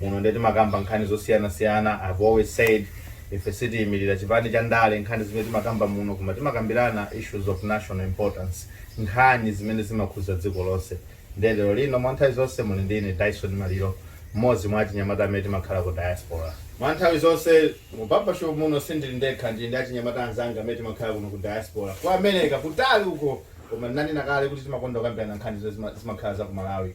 muno ndiye timakamba nkhani zosiyanasiyana i've always said ife sitiyimirira chipani cha ndale nkhani zimene timakamba muno koma timakambirana issues of national importance nkhani zimene zimakhudza dziko lonse ndiye lero lino mwa nthawi zonse muli ndi ine dyson maliro mmodzi mwa achinyamata amene timakhala ku diaspora mwa nthawi zonse mu barbershop muno sindili ndekha ndili ndi achinyamata anzanga amene timakhala kuno ku diaspora ku america kutali uko koma ndinanena kale kuti timakonda kukambirana nkhani zimene zima- zimakhala za ku malawi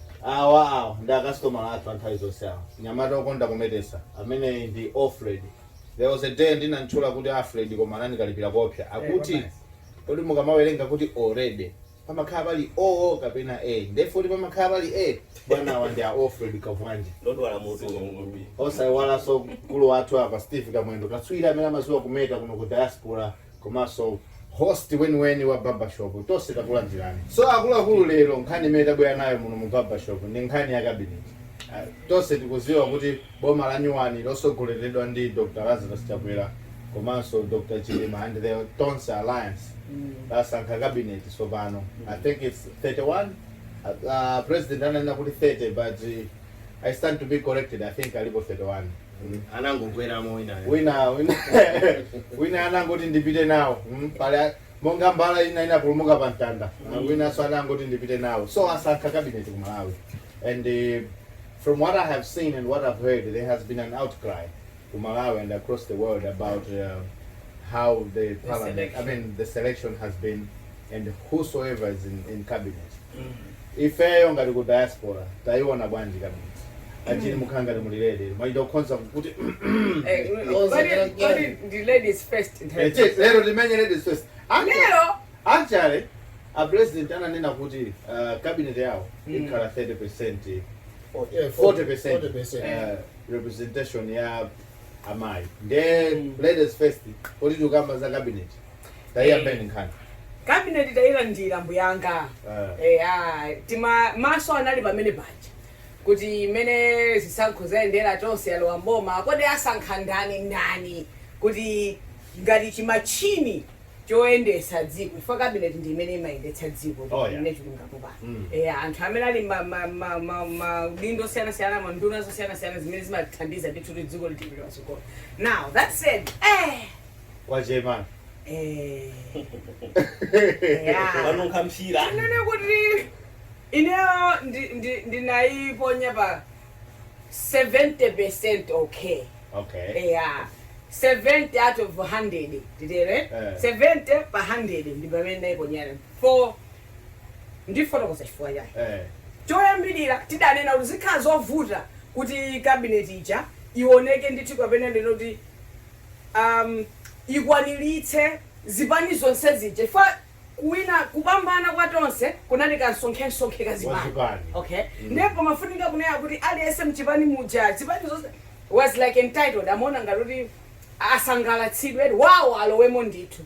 Wawa ndi akasitomala athu a nthawi zonse awa. Mnyamata wokonda kumetesa ameneyi ndi Alfred. There was a day ndinam'tchula kuti Alfred koma anandikalipira koopsa. Akuti, Kodi mukamawerenga kuti already, pamakhala pali O kapena A? Ndiye if pamakhala pali A? Bwana awa ndi a Alfred Kabwanje. Ndodwala mutu uno kwambiri. Osaiwalanso mkulu wathu apa, Steve Kamwendo, katswiri amene amadziwa kumeta kuno ku Diaspora. komanso host weniweni wa Barbershop tonse takulandirani. So akuluakulu lero nkhani imene tabwera nayo muno mu Barbershop ndi nkhani ya cabinet. Ah, Tonse tikudziwa kuti boma la nyuwani losogoleredwa ndi Dr. Lazarus Chakwera komanso Dr. Chilima and the Tonse Alliance lasankha cabinet tsopano. I think it's 31 Ah, ah, president ananena kuti 30 but eh, I stand to be corrected I think alipo 31. mm, anangokweramo winayo wina wina wina anangoti ndipite nawo mm, paja monga mbala ina inapulumuka pa mtanda mm. winanso anangoti ndipite nawo so asankha cabinet ku malawi and uh, from what i have seen and what i've heard there has been an outcry ku malawi and across the world about uh, how the parliament i selection. mean the selection has been and whosoever is in, in cabinet ifeyo ngati ku diaspora tayiona bwanji cabinet achili mukukhala ngati mulilede mwachita kukhonza kuti Eh, mm, kodi- kodi ndi ladies first nthawi Eh, cheki, lero timenye ladies first Actually- Lero? actually a president ananena kuti uh, cabinet yawo ikhala 30 percent 40 percent uh, representation ya amayi nde ladies first kuti tikamba za cabinet tayiyambeni nkhani cabinet tayilandira bwanji Eh. eya tima maso anali pamene paja kuti mmene zisankho zayendera Tonse yalowa m'boma kodi asankha ndani ndani kuti ngati chimachini choyendetsa dziko chifukwa cabinet ndi imene imayendetsa dziko Oh, yeah. ine chilungamo pano Mm. eya anthu amene ali ma- ma- ma- ma- maudindo osiyanasiyana ma nduna zosiyanasiyana zimene zimathandiza ndithu kuti dziko lipitilire patsogolo now that said eh, kwa chairman Eh. Yeah. wanunkha mphira Tinene kuti ineyo ndi- ndi- ndinayiponya pa 70% okay. okay Yeah. 70 out of 100 nditere Eh. 70 pa 100 ndi pamene ndayiponyerapo ndifotokoza chifukwa chake eh choyambirira tidanena kuti zikhala zovuta kuti kabineti ija ioneke ndithu kapena ndinene kuti um yikwaniritse zipani zonse zija chifukwa kuwina kupambana kwa tonse kunali kansonkhensonkhe ka zipani Kazipani. okay Mm. ndipo pamafunika kunena kuti aliyense mchipani muja zipani zonse was like entitled amaona ngati kuti asangalatsidwe wawo alowemo ndithu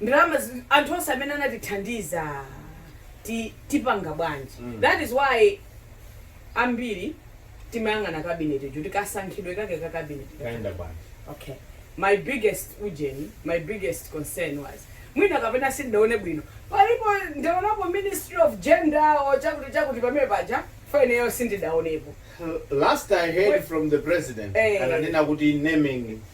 nanga anthu onse amene anatithandiza ti tipanga bwanji mm. that is why ambiri timayang'ana cabinet ijo kuti kasankhidwe kake ka cabinet kaenda bwanji okay my biggest ujeni my biggest concern was mwina kapena sindaone bwino palipo ndaonapo ministry of gender o chakuti chakuti pamene paja chifukwa ineyo sindidaonepo last i heard from the president hey. Eh. ananena kuti naming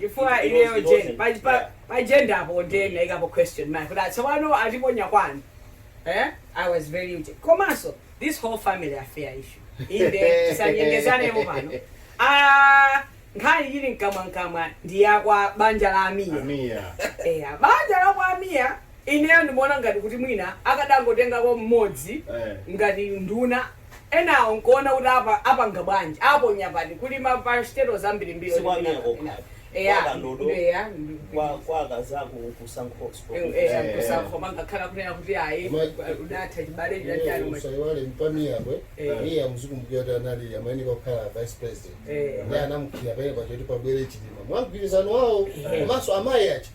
chifukwa ineyo jen pajenda apo ndinaikapo question mark kuti atsikano atiponya kwanu eh? i was very kuti komanso this whole family affair issue inde tisanyengezanemo pano Ah, nkhani ili mkamwamkamwa ndi yakwa banja la a Mia A Mia. eya banja la kwa a Mia ineyo ndimaona ngati kuti mwina akadangotengapo mmodzi Eh. ngati nduna enawo nkuona kuti apa apanga bwanji aponya pati kuli ma parastatals ambirimbiri Si kwa a Mia kokha. kapena- Kwa eya Kandodo, eya kwa kwa akazako Msungama sport. eya Eh. kusankho mangakhala kunena kuti ayi Ma- udathana chibale chinachani ma- usaiwale mpa Mia pake Eh. iye muzikumbukira kuti anali amayeneka kukhala vice president Eh. ndiye anamusiira penapake poti pabwere chilima mwagwirizano wawo komanso amayi aja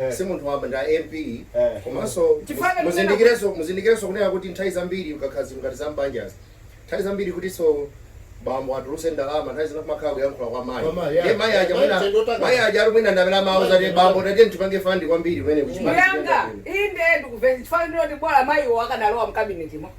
Eh. si munthu wamba ndi a mp Eh. komanso Chifukwa ngati muzindikireso muzindikireso kunena kuti nthawi zambiri ukakhala zinthu ngati zambanjazi nthawi zambiri kutinso bambo atuluse ndalama nthawi zina kumakhala kuyankhula kwa mayi Kwa mayi, Ndiye yeah. mayi aja Mayi mwina tendotaka. mayi aja ali mwina ndi amene amawauza kuti Mayi bambo tatiye tipange fandi kwambiri kumene kuchipani Mnyanga, inde ndikumvetsa chifukwa ndinoti bora mayiwo akanalowa mkabinetimo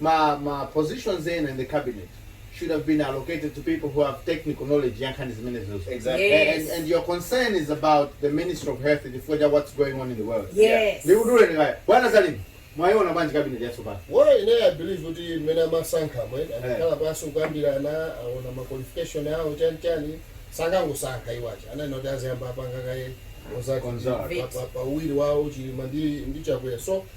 Ma ma positions ena in the cabinet should have been allocated to people who have technical knowledge ya nkhani zimenezozo. Exactly. A- And, Yes. and your concern is about the Minister of Health chifukwa cha what's going on in the world. Yes. Ndikudule kaye. Bwana Zalimi, mwayiona bwanji cabinet yatsopano? Well, ine I believe kuti mmene amasankhamo anakhala pansi kukambirana anaona ma qualification awo chani chani sanangosankha iwowo ananena kuti aziyamba apanga kaye Consult. pa uwiri wawo chilima ndi ndi chakwera so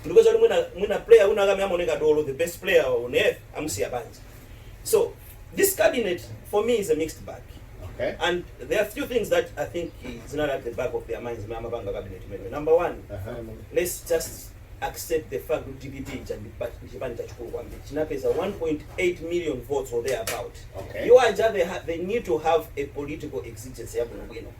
ndikupeza kuti mwina mwina player wina wake amene amaoneka dolo the best player on earth amusiya panja so this cabinet for me is a mixed bag Okay. and there are a few things that i think is not at the back of their minds mmene amapanga cabinet imeneyo number one let's just accept the fact kuti dpp ija ndi pa- ndi chipani chachikulu kwambiri chinapeza 1.8 million votes or thereabout Okay. iwo aja they, ha- they need to have a political exigence yabwinobwino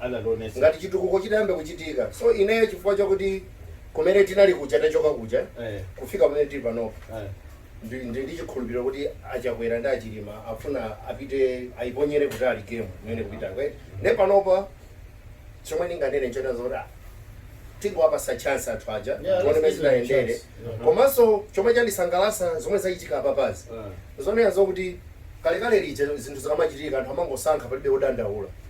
anandionetsa ngati chitukuko chitayambe kuchitika so ineyo chifukwa chakuti kumene tinali kuja tachoka kuja Eh. kufika pamene tili panopo Eh. ndi- ndi ndi chikhulupiriro kuti achakwera ndi achilima afuna apite ayiponyere kutali game imeneyi kupita kwete ne panopa chomwe ndinganene nchonena zoti ah, tingowapatsa chance anthu aja Yeah, tione let's mmene give them a zitayendere chance. Mhm. komanso chomwe chandisangalatsa zomwe zachitika apapazi Eh. zonena zokuti kalekale lija zinthu zikamachitika anthu amangosankha palibe odandaula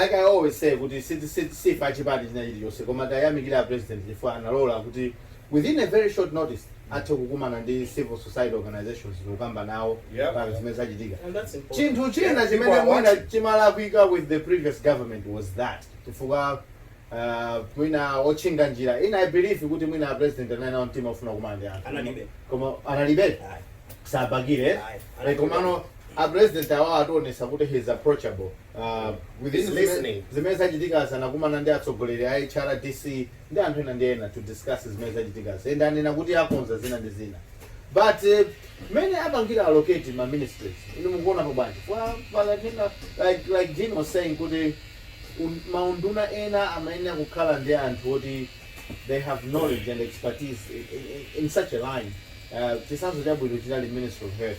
Like I always say kuti si ife achipani china chilichonse koma tiwayamikire a President chifukwa analola kuti within a very short notice athe kukumana ndi civil society organisations ndikukamba nawo pa zimene zachitika. Chinthu china chimene mwina chimalakwika with the previous government was that chifukwa mwina otchinga njira ena I believe kuti mwina a President anali nawo mtima ofuna kukumana ndi anthu koma analibe sabakire komano a President awa ationetsa kuti he is approachable. Ah, with He's zime- listening. zimene zachitika anakumana ndi atsogoleri a hrdc ndi anthu ena ndi ena to discuss zimene zachitika ende anena kuti akonza zina ndi zina but eh, mmene apangira allocate ma ministries inu mukuonapo bwanji Kwa- kwa like ena- like like Jean was saying kuti un- maunduna ena amayenera kukhala ndi anthu oti they have knowledge and expertise in, in, in such a line uh, chisanzo chabwino chinali ministry of health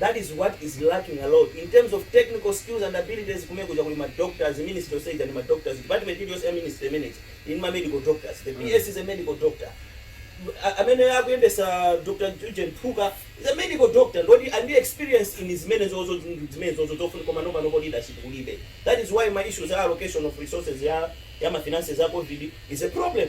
that is what is lacking a lot in terms of technical skills and abilities kumene kuja kuli ma doctors ministry yonse ija ndi ma doctors department iliyonse ya ministry imeneyija ili ndi ma medical doctors the PS is a medical doctor A- amene akuyendesa dr ujeni phuka is a medical doctor ndi oti ali ndi experience in zimenezozo zimenezozo zofuna komano panopo leadership kulibe that is why ma issues a allocation of resources ya ya ma finances a covid is a problem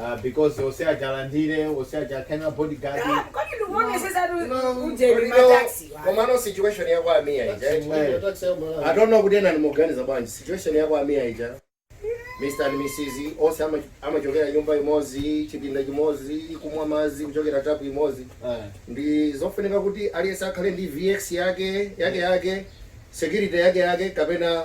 Ah, because onse aja alandire onse aja akhale na bodyguard kodi ndikuonesesatu ujeni mataxi wa komano situation ya kwa a Mia ija Eh. Taxi ya Malawi. i don't know kuti ena ndi moganiza bwanji situation ya kwa a Mia ija mr and mrs onse ama- amachokera nyumba imodzi chipinda chimodzi kumwa madzi kuchokera tapu imodzi Ah. ndi zofunika kuti aliyense akhale ndi vx yake yake yake security yake yake kapena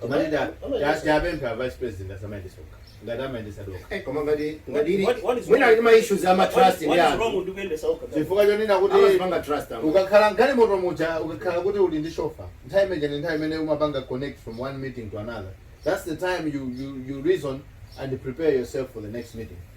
Koma ndi ta- ta- tiwapemphe a vice president asamayendetse okha ngati amayendetsadi okha Eh, koma ngati ngati ali What- what is mwina wrong? ali ma issues ama What- trust ndi what is wrong anthu with you kuyendetsa okha? chifukwa chonena kuti amazipanga trust anthu ukakhala mgalimoto muja ukakhala kuti uli ndi shofa nthawi imene ija ndi nthawi imene umapanga connect from one meeting to another that's the time you, you, you reason and prepare yourself for the next meeting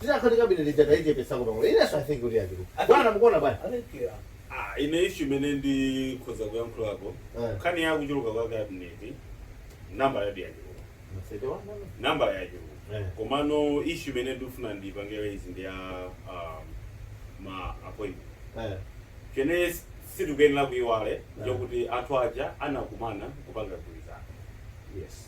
Tisati kabineti ija taichepetsako pang'ono. Inenso I think kuti yachuluka. Bwana mukuona bwanji? I think yeah. Ah, ine issue imene ndikhoza kuyankhulapo Eh. nkhani ya kuchuluka kwa kabineti nambala yake yachuluka Masete wa mama. nambala yachuluka Eh. komano issue imene ndikufuna ndipangire izi ndi ya um, ma appointment Eh. chimene sitikuyenera kuiwala nchokuti anthu aja anakumana kupanga mgwirizano Yes.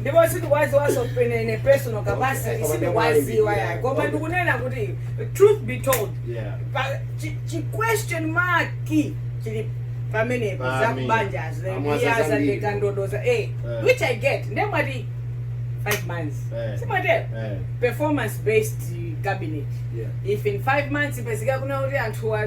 ndipo sindikuwaziwanso in a personal capacity sindikuwaziwa yayi koma ndikunena kuti truth be told Yeah. pa- chi- chi question mark chili pamenepo Pa za kubanja Amwaza zambiri. azandeka ndodoza eh Eh. which i get ndiye mwati 5 months Eh. si mwatero Eh. performance based cabinet Yeah. if in 5 months ipezeka kunena kuti anthu wa-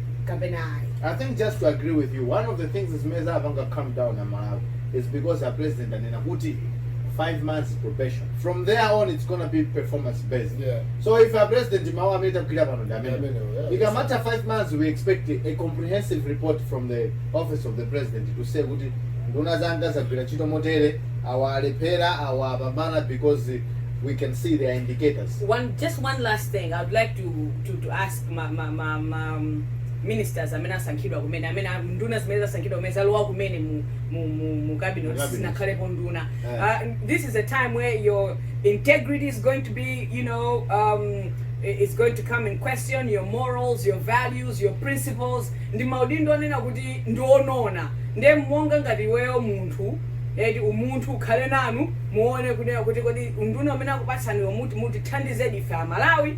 kapena ayi I think just to agree with you, one of the things is meza avanga come down na Malawi is because our president anena kuti five months probation. From there on, it's gonna be performance based. Yeah. So if our president mawa ameta kukira pano ndi amene. Amene, yeah. Ikamata five months, we expect a comprehensive report from the office of the president to say kuti nduna zanga zagwira ntchito motere awa alephera awa apambana because we can see their indicators. one just one last thing i would like to to, to ask ma ma ma ma ministers amene asankhidwa kumene amene a- nduna zimene zasankhidwa kumene zalowa kumene mu mu mu, mu cabinet Mu cabinet. sinakhalepo nduna Eh. uh, this is a time where your integrity is going to be you know um, i- is going to come in question your morals your values your principles ndi maudindo onena kuti ndionona nde monga ngati iweyo munthu eti umunthu ukhale nanu muone kunena kuti kodi unduna umene akupatsaniwo muti mutithandizedi ife amalawi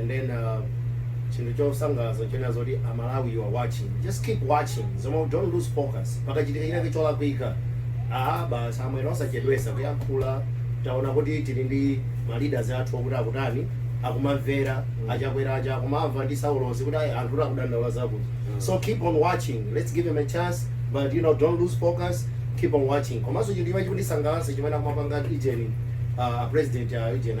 and then uh, chinthu chosangalatsa china zoti amalawi you are watching just keep watching zomwe don't lose focus pakachitika chinake cholakwika aha basi amwene osachedwesa kuyankhula taona kuti tili ndi maleaders athu okuti akutani akumamvera a Chakwera aja akumamva ndi a Saulosi kuti ayi anthu kuti akudandaula zakuti so keep on watching let's give him a chance but you know don't lose focus keep on watching komanso chinthu chimene chikundisangalatsa chimene akumapanga ijeni uh, president uh, ijeni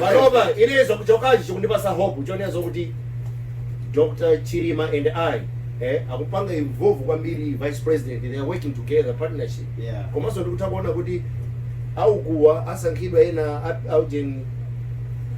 panopa ine ineyo chokhachi chikundipatsa hope chonena zokuti dr chilima and i eh, akupanga involve kwambiri vice president they are working together partnership Yeah. komanso ndikutha kuona kuti akuwa asankhidwa ena a- aujeni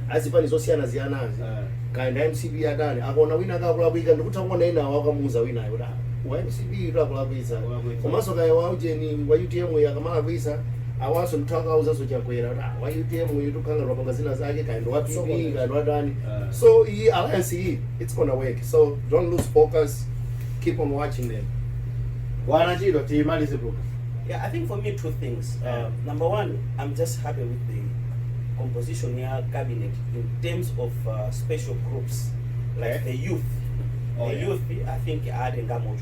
azipani zosiyanasiyanazi Ah. kaya ndi a mcp atani akaona wina akakulakwitsa ndikutha kuona ena akamuuza winayo kuti "Ah, wa mcp uyu akulakwisa Akulakwisa. komanso kaya waujeni wa utm uyu akamalakwisa Awanso ndithu akawuzanso Chakwera kuti ah, wa UTM uyu tukhanga lwapanga zina zake kaya ndi wa PP kaya ndi wa dani. Ah. So iyi alliance iyi it's gonna work. So don't lose focus. Keep on watching them. Bwana Chido timalize program. Yeah, I think for me two things. Uh, number one, I'm just happy with the composition ya cabinet in terms of uh, special groups like Okay. the youth. Oh, the yeah. youth, I think, adding that much.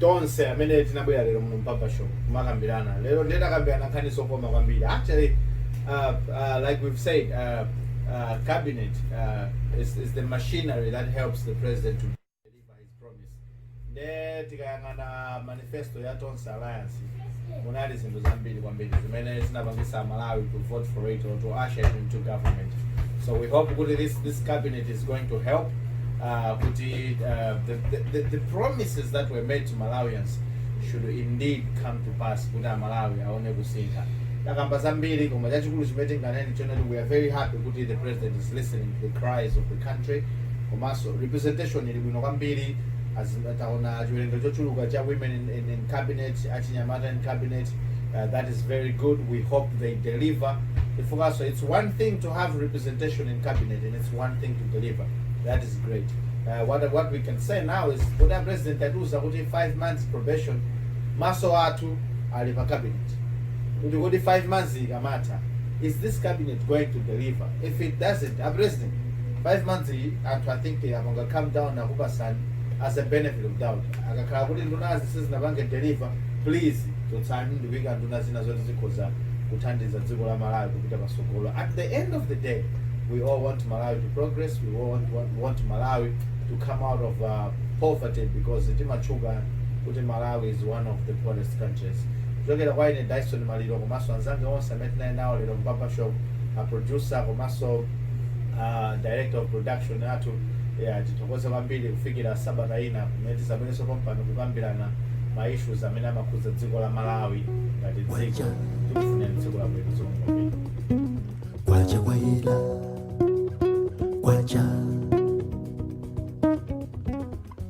tonse amene tinabwera lero muno mu barbershop kumakambirana lero ndiye takambirana nkhani zokoma kwambiri actually uh, uh, like we've said uh, uh, cabinet uh, is, is the machinery that helps the president to deliver his promise ndiye tikayang'ana manifesto ya tonse alliance munali zinthu zambiri kwambiri zimene zinapangisa amalawi to vote for it or to usher it into government so we hope kuti this, this cabinet is going to help uh, kuti uh, the, the, the, the promises that were made to malawians should indeed come to pass kuti amalawi aone kusintha takamba zambiri koma chachikulu chimene tinganene nchonena kuti we are very happy kuti the president is listening to the cries of the country komanso representation ili bwino kwambiri as- taona chiwerengero chochuluka cha women in, in, in cabinet achinyamata in cabinet uh, that is very good we hope they deliver chifukwa so it's one thing to have representation in cabinet and it's one thing to deliver that is great uh, what, what we can say now is kuti a president atiuza kuti 5 months probation maso athu ali pa cabinet kuti kuti 5 months ikamatha is this cabinet going to deliver if it doesn't a president 5 months iyi anthu i think apanga calm down akupasani as a benefit of doubt akakhala kuti nduna zija sizinapange deliver please chotsani ndikuika nduna zina zoti zikhoza kuthandiza dziko la malawi kupita pasogolo at the end of the day we all want malawi to progress we all want, want, want malawi to come out of uh, poverty because timatchuka kuti malawi is one of the poorest countries kuchokera kwa ine dyson maliro komanso anzanga onse amene tinali nawo lero mu barbershop aproducer komanso uh, director of production athu yeah, tithokoze kwambiri kufikira sabata ina kumene tizabwerenso pompano kukambirana ma issues amene amakhudza dziko la malawi ngati dziko tikufuna dziko labwino zikomo kwambiri kwacha kwaila kwacha